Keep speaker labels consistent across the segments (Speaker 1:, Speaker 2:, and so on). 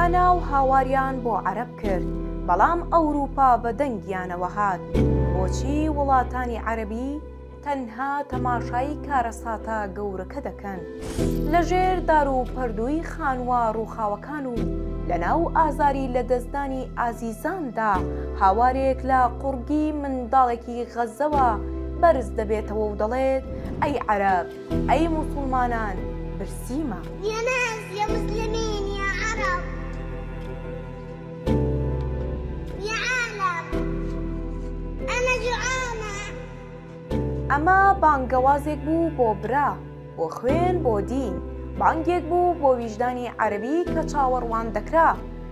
Speaker 1: هاناو هاواریان بۆ عەرەب کرد بەڵام ئەوروپا بە دەنگیانەوە هات بۆچی وڵاتانی عەرەبی تەنها تەماشایی کارەساتە گەورەکە دەکەن لە ژێر دار و پەردووی خانوە ڕوخاوەکان و لە ناو ئازاری لە دەستدانی ئازیزاندا هاوارێک لە قوڕگی منداڵێکی غەزەوە بەرز دەبێتەوە و دەڵێت ئەی عەرەب ئەی موسڵمانان برسیمە. یە ناس
Speaker 2: یە موسلمین یە عەڕەب یە عالەم ئەمە جوعانە.
Speaker 1: ئەمە بانگەوازێک بوو بۆ برا، بۆ خوێن، بۆ دین، بانگێک بوو بۆ ویژدانی عەرەبی کە چاوەڕوان دەکرا،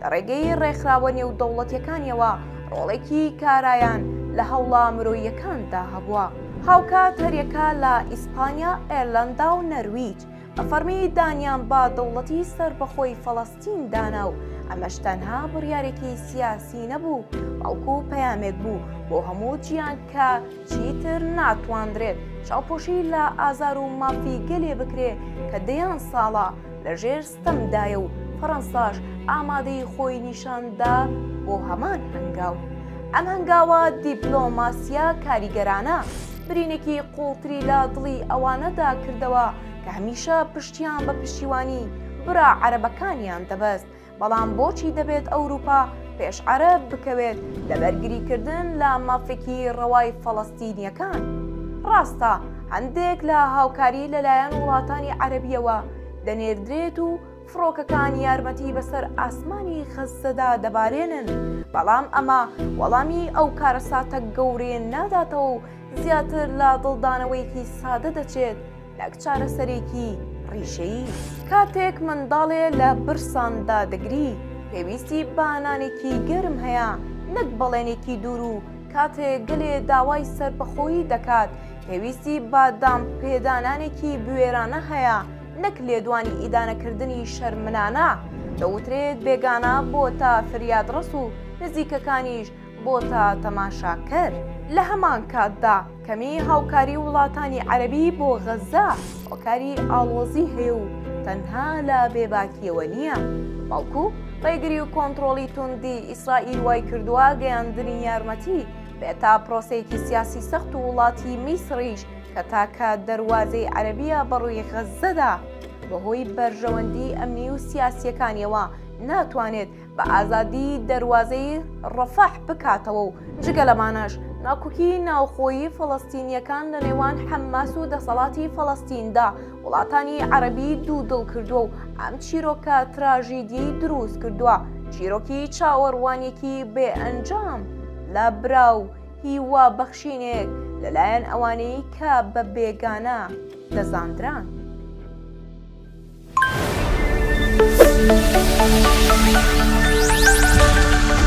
Speaker 1: لە ڕێگەی ڕێکخراوە نێودەوڵەتیەکانیەوە ڕۆڵێکی کارایان لە هەوڵە مرۆییەکاندا هەبووە هاوکات هەریەکە لە ئیسپانیا ئێرلەندا و نەرویج بە فەرمی دانیان با دەوڵەتی سەربەخۆی فەڵەستین دانا و ئەمەش تەنها بڕیارێکی سیاسی نەبوو بەڵکو پەیامێک بوو بۆ هەموو جیان کە چیتر ناتواندرێت چاوپۆشی لە ئازار و مافی گەلێ بکرێ کە دەیان ساڵە لە ژێر ستەم دایە و فەرەنساش ئامادەیی خۆی نیشان دا بۆ هەمان هەنگاو. ئەم هەنگاوە دیپلۆماسییە کاریگەرانە برینێکی قووڵتری لە دڵی ئەوانەدا کردەوە کە هەمیشە پشتیان بە پشتیوانی برا عەرەبەکانیان دەبەست، بەڵام بۆچی دەبێت ئەوروپا پێش عەرەب بکەوێت لە بەرگریکردن لە مافێکی ڕەوای فەڵەستینییەکان؟ ڕاستە هەندێک لە هاوکاری لەلایەن وڵاتانی عەرەبییەوە دەنێردرێت و فڕۆکەکان یارمەتی بەسەر ئاسمانی غەززەدا دەبارێنن، بەڵام ئەمە وەڵامی ئەو کارەساتە گەورەیە ناداتەوە و زیاتر لە دڵدانەوەیەکی سادە دەچێت نەک چارەسەرێکی ڕیشەیی. کاتێک منداڵێ لە برسان دادەگری، پێویستی بە نانێکی گەرم هەیە نەک بەڵێنێکی دوور و کاتێ گەلێ داوای سەربەخۆیی دەکات، پێویستی بە دانپێدانانێکی بوێرانە هەیە نەک لێدوانی ئیدانەکردنی شەرمنانە، دەوترێت بێگانە بۆتە فریادڕەس و نزیکەکانیش بۆتە تەماشاکەر. لە هەمان کاتدا کەمی هاوکاری وڵاتانی عەرەبی بۆ غەززە هۆکاری ئاڵۆزی هەیە و تەنها لە بێباکییەوە نییە، بەڵکو ڕێگری و کۆنترۆڵی توندی ئیسرائیل وایکردووە گەیاندنی یارمەتی بێتا پرۆسەیەکی سیاسی سەخت و وڵاتی میسڕیش کە تاکە دەروازەی عەرەبیە بەڕووی غەززەدا بەهۆی بەرژەوەندی ئەمنی و سیاسیەکانیەوە ناتوانێت بە ئازادی دەروازەی ڕەفەح بکاتەوە و جگە لەمانەش ناکوکی ناوخۆیی فەڵەستینیەکان لەنێوان حەماس و دەسەڵاتی فەڵەستیندا وڵاتانی عەرەبی دوو دڵ کردووە و ئەم چیرۆکە تراژیدیەی دروست کردووە چیرۆکی چاوەڕوانێکی بێ ئەنجام لە برا و هیوا بەخشینێک لەلایەن ئەوانەی کە بە بێگانە دەزاندران. Thank you.